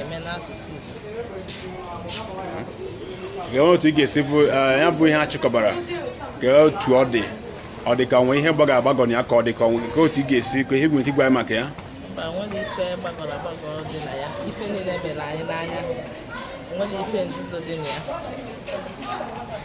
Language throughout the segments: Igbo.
eme n'asụsụ Igbo otu ị ga-esi bụ eh, ya bụ ihe a chịkọbara kee otu ọ dị ọ dị ka o nwe ihe gbagọ agbagọ na ya ka ọ dị ka o nwe nke otu ị ga-esi ka ihe nwere ike ịgwa maka ya mba o nwerọ ife gbagọrọ agbagọ dị na ya ife niile mere anyị n'anya o nwerọ ife nzuzo dị na ya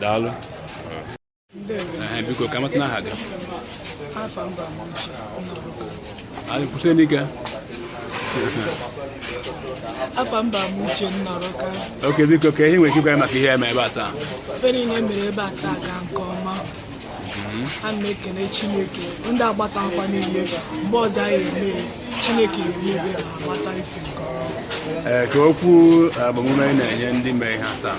daalụ biko ka m matanụ aha gị anyị kwụsị n'ike afa m bụ Amuche Nnọrọka okay biko kee ihe i nwere ike ịgwa maka ihe e mere ebe a taa ife niile mere ebe a taa gaa nke ọma mhm. a na m ekene chineke ndị agbata akwa niile mgbe ọzọ anyị eme chineke ya emebe ma agbata ife nke ọma ee eh, kee okwu eh, agbamume ị na-enye ndị mee ihe taa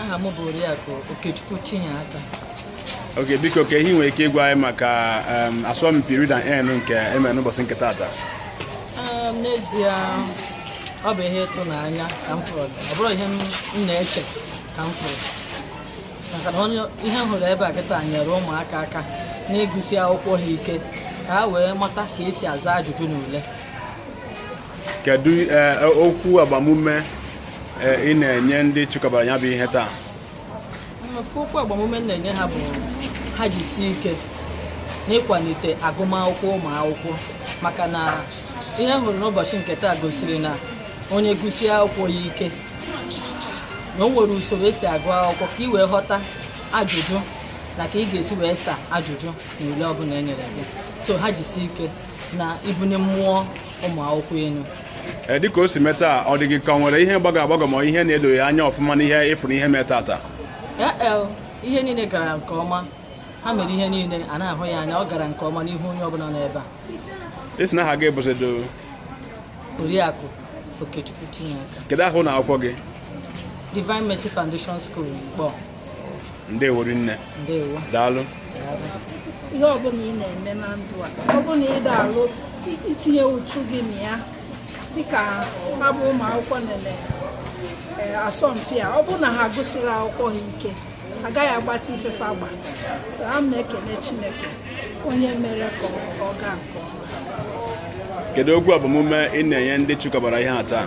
aha m bụ oriakụ okechukwu chinyeaka okay biko kee ihe i nwere ike ịgwa anyị maka asọmpi read and earn nke e mere n'ụbọchị nke taata n'ezie ọ bụ ihe ịtụnanya ka m fụrụ ọ bụrọ ihe m na-eche ka m fụrụ maka na ihe m hụrụ ebe a kịta nyere ụmụaka aka na ịgụsi akwụkwọ ha ike ka ha wee mata ka e si aza ajụjụ n'ule kedu eh, okwu agbamume eh, ị na-enye ndị chịkọbara ya bụ ihe taa mmefu okwu agbamume m na-enye ha bụ ha jisie ike n'ịkwalite agụmakwụkwọ ụmụ akwụkwọ maka na ihe m hụrụ n'ụbọchị nke taa gosiri na onye gụsie akwụkwọ ya ike na o nwere usoro e si agụ akwụkwọ ka ị wee ghọta ajụjụ na ka ị ga-esi wee sa ajụjụ na ule ọbụla e nyere gị so ha jisie ike na ibuni mmụọ ụmụ akwụkwọ elu ee dịka o si mee taa ọ dị gị ka ọ nwere ihe gbagọ agbagọ ma ihe na-edoghị anya ọfụma n'ihe ị fụrụ ihe mee taata ee ihe niile gara nke ọma ha mere ihe niile a na-ahụ ya anya ọ gara nke ọma n'ihu onye ọbụla nọ ebe a ị sị na aha gị bụzido oriakụ okechukwu chinaka kedu aha ụnọ akwụkwọ gị divine mercy foundation school Nkpor ndewori nne daalụ ihe ọbụla ị na-eme na ndụ a ọ bụla ị ga-alụ itinye uchu gị na ya dịka ha bụ ụmụ akwụkwọ na-eme eh, asọmpi a ọ bụrụ na ha agụsirọ akwụkwọ ha ike agaghị agbata ife fa gbalụ so a na m ekene Chineke onye mere ka ọ gaa nke ọma kedu okwu agbamume ị na-enye ndị chịkọbara ihe a taa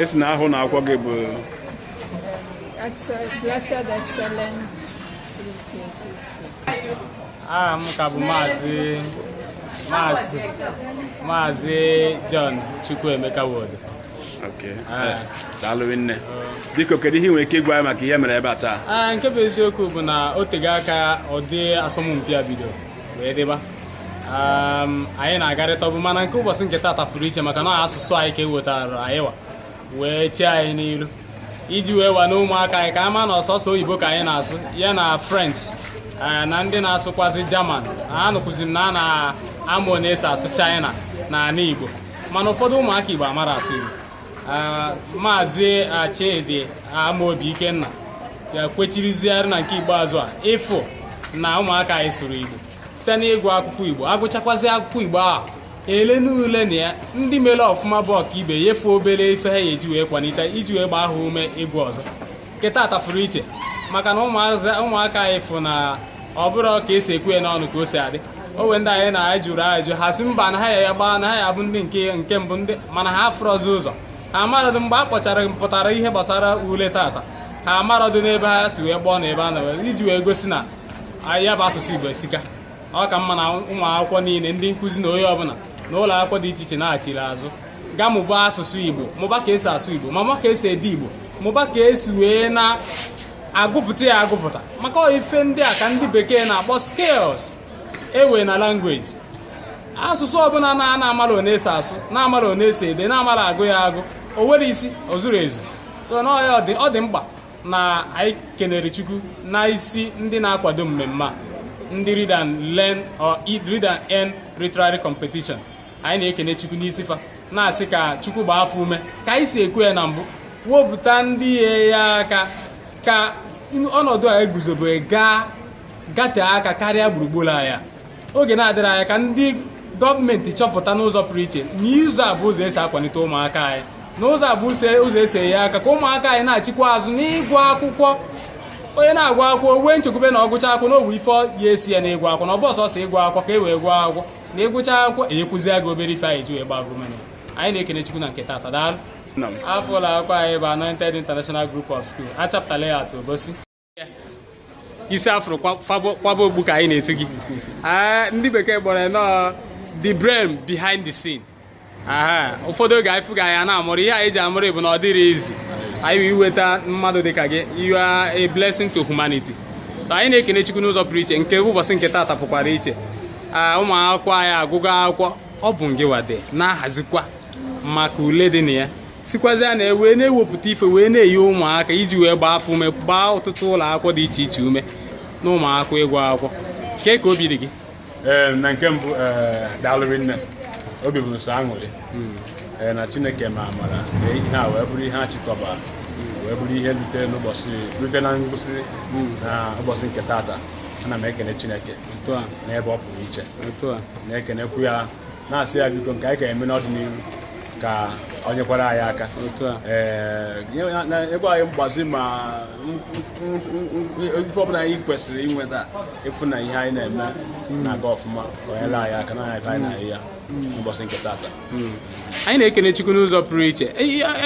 ị sị na aha ụnọ akwụkwọ gị bụ Blessed Excellent aha m ka bụ maazị maazị maazị John Chukwuemeka Nwodo ah. daalụ nne biko kedu ihe ị nwere ike ịgwa anyị maka ihe mere ebe a taa ah, nke bụ eziokwu bụ na o tego aka ụdị asọmpi a bidoro wee dịba anyị na-agarịtabu mana nke ụbọchị nke taata pụrụ iche maka na asụsụ anyị ka ewetara anyị wa wee chee anyị n'iru iji wee wa na ụmụaka anyị ka a ma na ọ sọsọ oyibo ka anyị na-asụ ya na french na ndị na-asụkwazi german anụkwazi m na a na-amụ one esi asụ china na ala igbo mana ụfọdụ ụmụaka igbo amarọ asụ igbo maazị Chidi Amaobi Ikenna kwechiriziarị na nke ikpeazụ a ịfụ na ụmụaka anyị sụrụ Igbo site n'ịgụ akwụkwọ Igbo agụchakwazi akwụkwọ Igbo ahụ ele n'ule na ya ndị mere ọfụma bụ ọkaibe nyefe obere ife ha ya eji wee kwalite iji wee gbaa ha ume ịgụ ọzọ nke taata pụrụ iche maka na ụmụaka anyị fụ na ọ bụrọ ka esi ekwu ya n'ọnụ ka o si adị o we ndị anyị na anyị jụrụ ajụ ha sị mba na ha ya gbaa na ha ya bụ ndị nke nke mbụ ndị mana ha afụrọzi ụzọ ha amarọdị mgbe a kpọchara pụtara ihe gbasara ule taata ha amarọdị n'ebe ha si wee gbọọ na ebe a na iji wee gosi na ya bụ asụsụ Igbo esika ọ ka mma na ụmụ akwụkwọ niile ndị nkụzi na onye ọbụla n'ụlọ akwụkwọ dị iche iche nachiri azụ gaa mụba asụsụ Igbo mụba ka esi asụ Igbo ma mụba ka esi ede Igbo mụba ka esi wee na-agụpụta ya agụpụta maka ọ ife ndị a ka ndị bekee na-akpọ skills e we na language asụsụ ọbụla na a na-amara one esi asụ na-amara one esi ede na-amara agụ ya agụ o nwere isi o zuru ezu ọ dị mkpa na anyị kenere Chukwu n'isi ndị na-akwado mmemme a ndị read and learn or read and earn literary competition anyị na-ekene chukwu n'isi fa na-asị ka chukwu gbaa fa ume ka anyị si ekwu ya na mbụ wepụta ndị ya enye aka ka ọnọdụ a eguzobe gatee aka karịa gburugburu anyị a oge na-adịrọ anya ka ndị gọọmenti chọpụta n'ụzọ pụrụ iche na ụzọ a bụ ụzọ esi akwalite ụmụaka anyị na ụzọ a bụ ụzọ esi enye aka ka ụmụaka anyị nachikwa azụ n'ịgụ akwụkwọ onye na-agụ akwụkwọ wee nchekwube na ọ gụcha akwụkwọ na o we ife ya esi ya n'ịgụ akwụkwọ na ọ bụrọ sọsọ ịgụ akwụkwọ ka e wee gụọ akwụkwọ na ị gụcha akwụkwọ enyekwuzie gị obere ife anyị ji wee gbaa gị ume anyị na-ekene chukwu na nke taata daalụ afa ụlọ akwụkwọ anyị bụ Anointed International Group of School Achapụta Layout Obosi isi a fụrụ kwaba okpu ka anyị na-etu gị ah, ndị bekee kpọrọ nọọ the brain behind the scene ụfọdụ oge anyị fụ gị anyị na-aṅụrị ihe anyị ji aṅụrị bụ na ọ dịrọ easy anyị wee iweta mmadụ dịka gị you are a blessing to humanity anyị na-ekene Chukwu n'ụzọ pụrụ iche nke ụbọchị nke taata pụkwara iche ụmụ akwụkwọ anyị agụgo akwụkwọ ọ bụ ngịwa na-ahazikwa maka ule dị na ya sikwazia na wee na-ewepụta ife wee na-enye ụmụaka iji wee gbaa fa ume gbaa ọtụtụ ụlọ akwụkwọ dị iche iche ume na ụmụakwụkwọ ịgụ akwụkwọ kee ka obi dị gị ee na nke mbụ ee daalụ rinne obi bụ m sọ aṅụrị ee na chineke mee amara na ihe a wee bụrụ ihe a chịkọba wee bụrụ ihe rute n'ụbọchị rute na ngwụsị na ụbọchị nke tata ana m ekene chineke otu a n'ebe ọ pụrụ iche otu a na-ekenekwu ya na-asị ya biko nke anyị ka eme n'ọdịnihu ka ọ nyekwara anyị aka otu a ee nye- na- na- ebe anyị mgbazi ma m- m- m- m- ife ọbụla anyị kwesịrị inweta ịfụ na ihe anyị na-eme na-aga ọfụma ka o nyere anyị aka na anyị anyị na-ahụ ya n'ụbọchị nke tata anyị na-ekene chukwu n'ụzọ pụrụ iche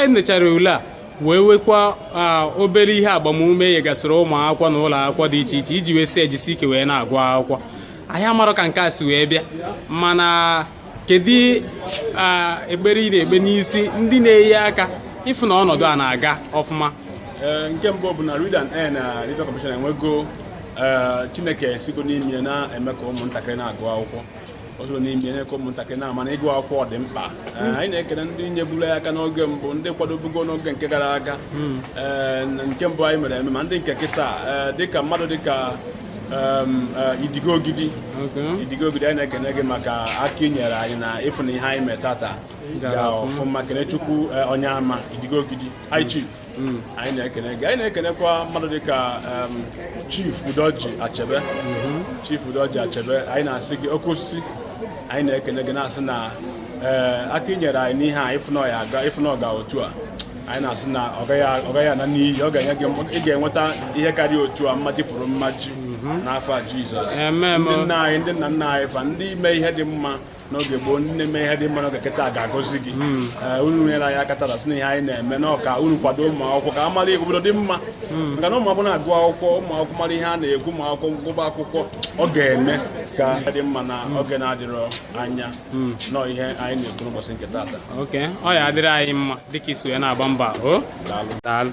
e nechara ule a wee wekwa ah, obere ihe agbamume nyegasịrị ụmụ akwụkwọ na ụlọ akwụkwọ dị iche iche iji wee sị e jisie ike wee na-agụ akwụkwọ anyị amarọ ka nke a si wee bịa mana kedu ekpere ị na-ekpe n'isi ndị na-enye aka ịfụ na ọnọdụ a na-aga ọfụma nke mbụ bụ na Read and Earn na Life Commission enwego Chineke sigo n'ime na-eme ka ụmụntakịrị na-agụ akwụkwọ o sigo n'ime eme ka ụmụntakịrị na-ama na ịgụ akwụkwọ dị mkpa hmm. anyị na-ekele ndị nyeburu ya aka n'oge mbụ ndị kwadobugo n'oge nke gara aga hmm. nke mbụ anyị mere eme ma ndị nke kịta dịka mmadụ dịka Um, uh, idigo ogidi idigo ogidi anyị na-ekene gị maka aka i nyere anyị na ịfụ na ihe anyị mee tata ga ọfụma kenechukwu uh, onyema idigo ogidi high mm. chief mm. anyị na-ekene gị anyị na-ekenekwa mmadụ dịka um, chief udoji achebe mm-hmm. chief udoji achebe anyị na-asị gị oke osisi anyị na-ekene gị na-asị na uh, aka i nyere anyị n'ihe a ịfụ na ọ ga otu a anyị na-asị na ọ gaghị ana n'iyi ọ ga-enye gị ị ga-enweta ihe karịa otu a mmaji kwuru mmaji mhm. n'afa Jizọs ndị nna anyị ndị nna nna anyị fa ndị mee ihe dị mma n'oge gboo ndị na-eme ihe dị mma n'oge kịta ga-agọzi gị mhm. eh, unu nyere anyị aka tata sị na ihe anyị na-eme na ọ ka unu kwado ụmụ akwụkwọ ka a mara obodo dị mma mhm. maka na ụmụ akwụkwọ na-agụ akwụkwọ ụmụ akwụkwọ mara ihe a na-ekwu ụmụ akwụkwọ gụba akwụkwọ ọ ga-eme ka ọ dị mma na oge na-adịrọ anya hmm. nọ ihe anyị na-ekwu n'ụbọchị nke taata okay ọ ya-adịrị anyị mma dịka i si wee na-agba mbọ daalụ